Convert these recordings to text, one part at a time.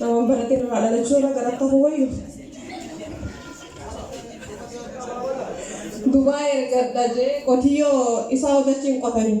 Namoonni baratee irraa dhalachuu irra gara ta'uu wayyu. Dubaa ergadha jee qotiyyoo isaa hojjechiin qotanii.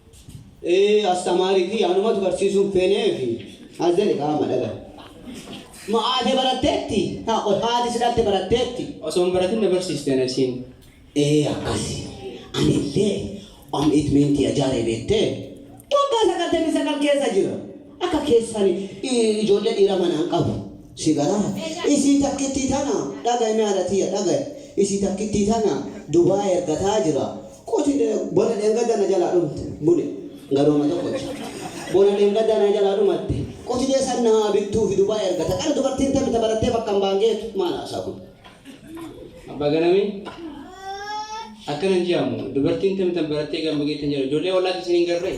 Ee astamaari kiyya anumatu barsiisuun feenee fi as jedhe kaa amma dhaga. Ma aate baratteetti? Ha qoy haati si dhalte baratteetti? Osoo hin baratin na barsiiste na isiin. Ee akkasi. Anillee am it mean tiya jaaree beettee? Waggaa 99 keessa jira. Akka keessan ijoollee dhiira manaan qabu. Si galaha isii takkittii tana dhagayi mee haadha tiyya dhagayi isii takkittii tana Dubai ergataa jira qoti bona dheengadda na jalaa dhumte bune garuu amma tokkocha bona dheengadda na jalaa dhumatte qotiyee san na haa bittuufi Dubai ergata qara dubartiin tami ta barattee bakka hin baan geetu maal haasaa kun. Abbaa Ganamee akkana hin je'amu dubartiin tami tan barattee gamba geettu hin jedhamu ijoollee ollaatti isin hin garree.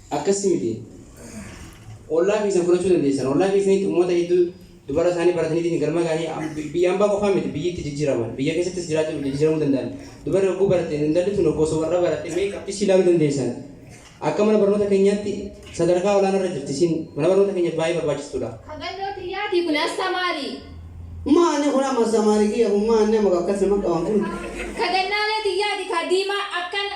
Akkassi miti. Ollaa keessan fudhachuu dandeessan. Ollaa keessanitti uummata hedduu dubara isaanii barataniitiin galma ga'anii am- bi- biyya ambaa qofaa miti biyyi itti jijjiiraman. Biyya keessattis jiraachuu jijjiiramuu danda'an. Dubarri hogguu baratte intalli tun hoggoo osoo warra baratte mee qabxii ishii ilaaluu dandeessan. Akka mana barnoota keenyaatti sadarkaa olaanaa irra jirti isin mana barnoota keenyaaf baay'ee barbaachistuudha. Hagannoo tiyyaatii kun astamaarii. Maani kun amma samaari kiyya kun maani amma akkas nama qaban kun. Kagannaalee tiyyaati kaa diimaa akkana.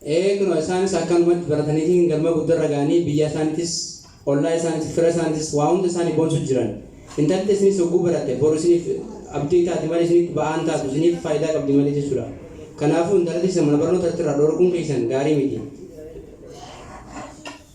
Ee kunoo isaanis akkanumatti barataniitiin galma guddarra ga'anii biyyaa isaanitis, ollaa isaanitis, fira isaanitis waa hunda isaani boonsu jiran. Intalli tesinis hogguu baratte boru isiniif abdii taati malee isinitti ba'aa hin taatu isiniif faayidaa qabdi malee jechuudha. Kanaafuu intala teessan mana barnootaatti irraa dhoorkuun keessan gaarii miti.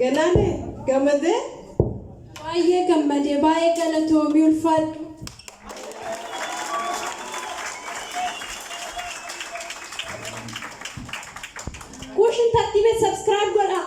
Galaane gamadee? Baay'ee gammade baay'ee galatoomi ulfaadhu. Kuushin tartiibe subscribe godhaa.